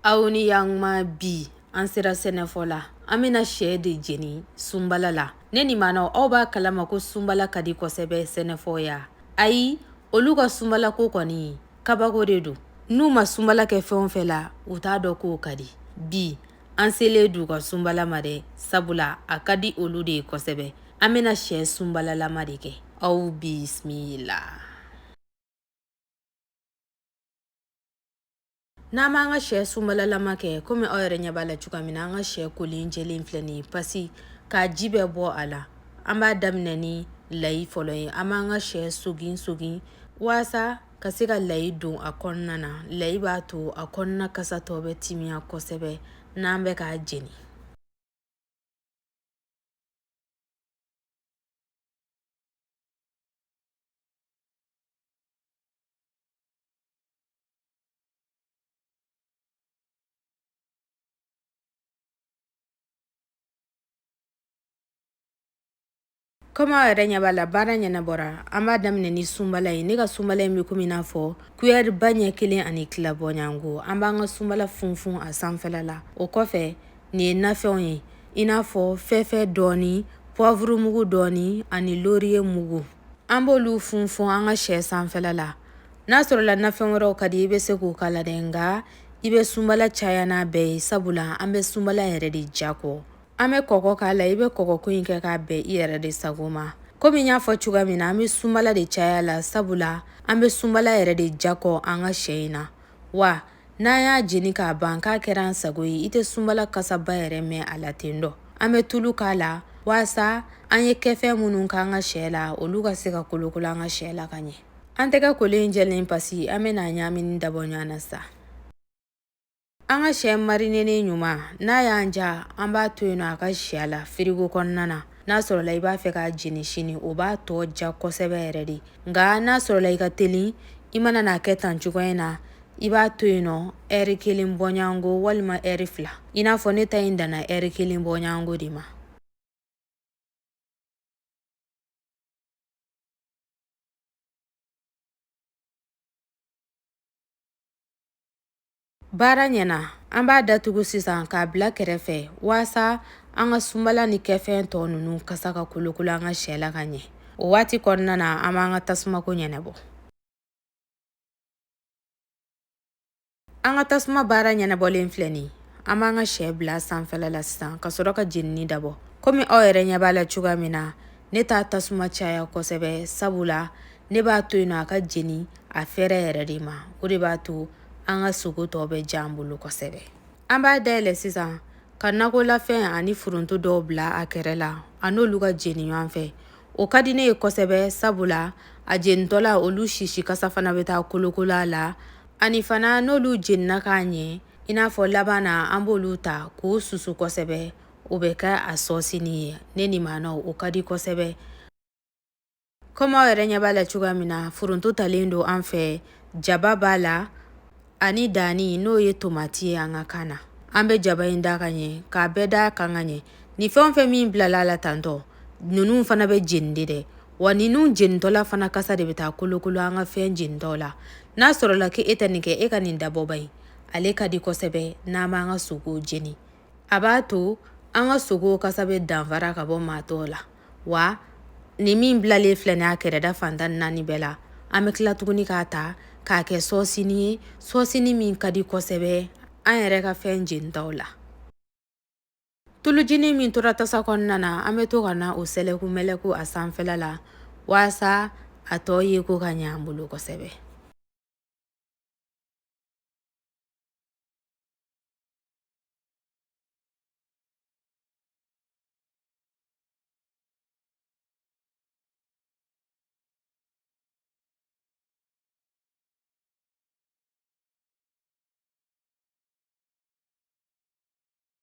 aw ni yanma bi an sera sɛnɛfɔla an bɛna sɛ de jeni sunbala la ne ni maanaw aw b'a kalama ko sunbala ka di kosɛbɛ sɛnɛfɔw ye ayi olu ka sunbalako kɔni kabako de don n'u ma sunbala kɛ fɛn o fɛn la u t'a dɔn k'o ka di bi an selen d'u ka sunbala ma dɛ sabula a ka di olu de ye kosɛbɛ an bɛna sɛ sunbalalama de kɛ aw bisimila n'an b'an ka sɛ sunbalalama kɛ komi aw yɛrɛ ɲɛ b'a la cogoya min na an ka sɛ kolen jɛlen filɛ nin ye pasi k'a ji bɛɛ bɔ a la an b'a daminɛ ni layi fɔlɔ ye an b'an ka sɛ sogin sogin walasa ka se ka layi don a kɔnɔna na layi b'a to a kɔnɔna kasa tɔ bɛ timiya kosɛbɛ n'an bɛ k'a jeni komi aw yɛrɛ ɲɛ b'a la baara ɲɛnabɔra an b'a daminɛ ni sunbala ye ne ka sunbala in bɛ komi n'a fɔ kuyɛriba ɲɛ kelen ani tila bɔɲɔgɔnko an b'an ka sunbala funfun a sanfɛla la o kɔfɛ nin ye nafɛnw ye i n'a fɔ fɛfɛ dɔɔni pɔvuru mugu dɔɔni ani loriye mugu an b'olu funfun an ka sɛ sanfɛla la n'a sɔrɔla nafɛn wɛrɛw ka di i bɛ se k'o k'a la dɛ nka i bɛ sunbala caya n'a bɛɛ ye sabula an bɛ sunbala yɛrɛ de diya kɔ an bɛ kɔkɔ k'a la i bɛ kɔkɔko in kɛ k'a bɛn i yɛrɛ de sago ma komi n y'a fɔ cogoya min na an bɛ sunbala de caya a la sabula an bɛ sunbala yɛrɛ de diya kɔ an ka sɛ in na wa n'an y'a jeni k'a ban k'a kɛra an sago ye i tɛ sunbala kasaba yɛrɛ mɛn a la ten dɔ an bɛ tulu k'a la walasa an ye kɛfɛn minnu k'an ka sɛ la olu ka se ka kolokolo an ka sɛ la ka ɲɛ An tɛgɛ kolen in jɛlen pasi an bɛna a ɲagamini dabɔ ɲɔgɔn na sa an ka sɛ marinenen ɲuman n'a y'an diya an b'a to yen nɔ a ka si a la firigo kɔnɔna na n'a sɔrɔla i b'a fɛ k'a jeni sini o b'a tɔ diya kosɛbɛ yɛrɛ de nka n'a sɔrɔla i ka teli i mana n'a kɛ tan cogoya in na i b'a to yen nɔ ɛri kelen bɔɲɔgɔnko walima ɛri fila i n'a fɔ ne ta in danna ɛri kelen bɔɲɔgɔnko de ma Baara ɲɛna an b'a datugu sisan k'a bila kɛrɛfɛ waasa an ka sunbala ni kɛfɛn tɔ ninnu kasa ka kolokolo an ka sɛ la ka ɲɛ o waati kɔnɔna na an b'an ka tasumako ɲɛnabɔ An ka tasuma baara ɲɛnabɔlen filɛ nin ye. An b'an ka sɛ bila sanfɛla la sisan ka sɔrɔ ka jenini dabɔ. Komi aw yɛrɛ ɲɛ b'a la cogoya min na, ne t'a tasuma caya kosɛbɛ sabu la ne b'a to yen nɔ a ka jeni a fɛɛrɛ yɛrɛ de ma. O de b'a to an ka sogo tɔ bɛ diya an bolo kosɛbɛ. An b'a dayɛlɛ sisan ka nakolafɛn ani foronto dɔw bila a kɛrɛ la a n'olu ka jeni ɲɔgɔn fɛ. O ka di ne ye kosɛbɛ sabu la a jenitɔla olu sisi kasa fana bɛ taa kolokolo a la ani fana n'olu jenina ka ɲɛ i n'a fɔ laban na an b'olu ta k'o susu kosɛbɛ o bɛ kɛ a sɔsini ye ne ni maana o ka di kosɛbɛ kɔmi aw yɛrɛ ɲɛ b'a la cogoya min na foronto talen don an fɛ jaba b'a la ani danni n'o ye tomati ye an ka kan na an bɛ jaba in da ka ɲɛ k'a bɛɛ da a kan ka ɲɛ ni fɛn o fɛn min bilala a la tantɔ ninnu fana bɛ jeni de dɛ wa ninnu jenitɔla fana kasa de bɛ taa kolokolo an ka fɛn jenitɔ la n'a sɔrɔla k'e tɛ nin kɛ e ka nin dabɔba ye ale ka di kosɛbɛ n'an b'an ka sogo jeni a b'a to an ka sogo kasa bɛ danfara ka bɔ maa tɔw la wa nin min bilalen filɛ nin ye a kɛrɛda fantan naani bɛɛ la an bɛ tila tuguni k'a ta k'a kɛ sɔɔsini ye sɔɔsini min ka di kosɛbɛ an yɛrɛ ka fɛn jenitaw la Tulujinin min tora tasa kɔnɔna na an bɛ to ka na o sɛlɛku mɛlɛku a sanfɛla la walasa a tɔ ye ko ka ɲɛ an bolo kosɛbɛ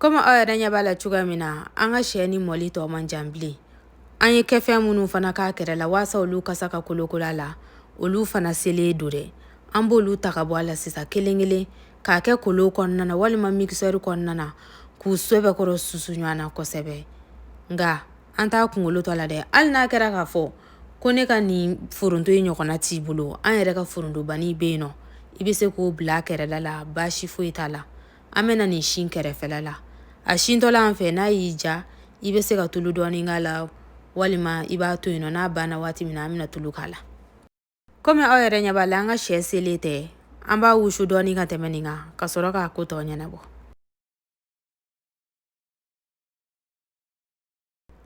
komi aw yɛrɛ ɲɛ b'a la cogoya min na an ka sɛnin mɔli tɔ man jan bilen an ye kɛfɛn minnu fana k'a kɛrɛ la waasa olu kasa ka kolokolo a la olu fana selen don dɛ an b'olu ta ka bɔ a la sisan kelen kelen k'a kɛ kolon kɔnɔna na walima mikisɛri kɔnɔna na k'u sɛbɛkɔrɔ susu ɲɔgɔn na kosɛbɛ nka an t'a kunkolo to a la dɛ hali n'a kɛra k'a fɔ ko ne ka nin foronto ye ɲɔgɔnna t'i bolo an yɛrɛ ka forontobanin bɛ yen nɔ i bɛ se k'o bila a kɛrɛda la baasi foyi t'a la an bɛna nin sin kɛrɛfɛla la a sintɔla an fɛ n'a y'i diya i bɛ se ka tulu dɔɔni k'a la walima i b'a to yen nɔ n'a banna waati min na an bɛna tulu k'a la komi aw yɛrɛ ɲɛ b'a la an ka sɛ selen tɛ an b'a wusu dɔɔni ka tɛmɛ nin kan ka sɔrɔ k'a ko tɔ ɲɛnabɔ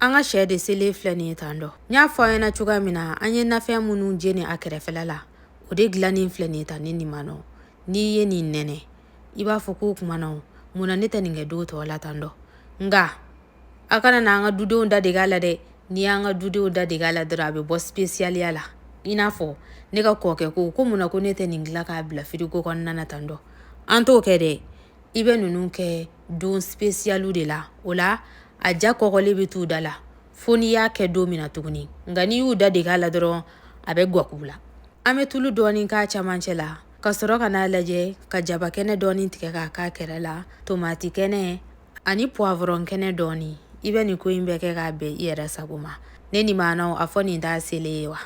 An ka sɛ de selen filɛ nin ye tan dɔ n y'a fɔ aw ɲɛna cogoya min na an ye nafɛn minnu jeni a kɛrɛfɛla la o de dilannen filɛ nin ye tan ni nin ma nɔ n'i ye nin nɛnɛ i b'a fɔ k'o kuma na mun na ne tɛ nin kɛ don tɔw la tan dɔ nka a kana na an ka dudenw da deg'a la dɛ n'i y'an ka dudenw da deg'a la dɔrɔn a bɛ bɔ sipesiyaliya la i n'a fɔ ne ka kɔkɛ ko ko mun na ko ne tɛ nin dilan k'a bila firigo kɔnɔna na tan dɔ an t'o kɛ dɛ i bɛ ninnu kɛ don spesiyaliw de la o la a ja kɔgɔlen bɛ t'u da la fo n'i y'a kɛ don min na tuguni nka n'i y'u da deg'a la dɔrɔn a bɛ gwakuw la an bɛ tulu dɔɔni k'a camancɛ la ka sɔrɔ ka n'a lajɛ ka jabakɛnɛ dɔɔni tigɛ k'a k'a kɛrɛ la tomati kɛnɛ ani puwavɔrɔn kɛnɛ dɔɔni i bɛ nin ko in bɛɛ kɛ k'a bɛn i yɛrɛ sago ma ne ni maanaw a fɔ nin t'a selen ye wa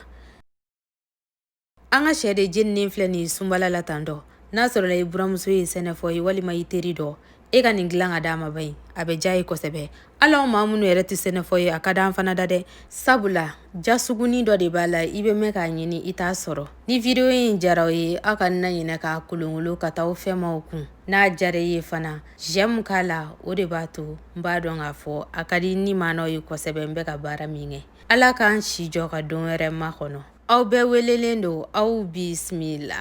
an ka sɛ de jeninen filɛ nin ye sunbala la tan dɔ n'a sɔrɔla i buramuso ye sɛnɛfɔ ye walima i teri dɔ e ka nin dilan ka d'a ma b'a ye a bɛ diy'a ye kosɛbɛ hali anw maa minnu yɛrɛ tɛ sɛnɛfɔ ye a ka d'an fana da dɛ sabula ja sugunin dɔ de b'a la i bɛ mɛn k'a ɲini i t'a sɔrɔ ni video in jara aw ye aw kana ɲinɛ k'a kolonkolon ka taa aw fɛ maaw kun n'a jara i ye fana j'aime k'a la o de b'a to n b'a dɔn k'a fɔ a ka di ni maanaw ye kosɛbɛ n bɛ ka baara min kɛ ala k'an si jɔ ka don wɛrɛ makɔnɔ Aw bɛɛ welelen don aw bisimila la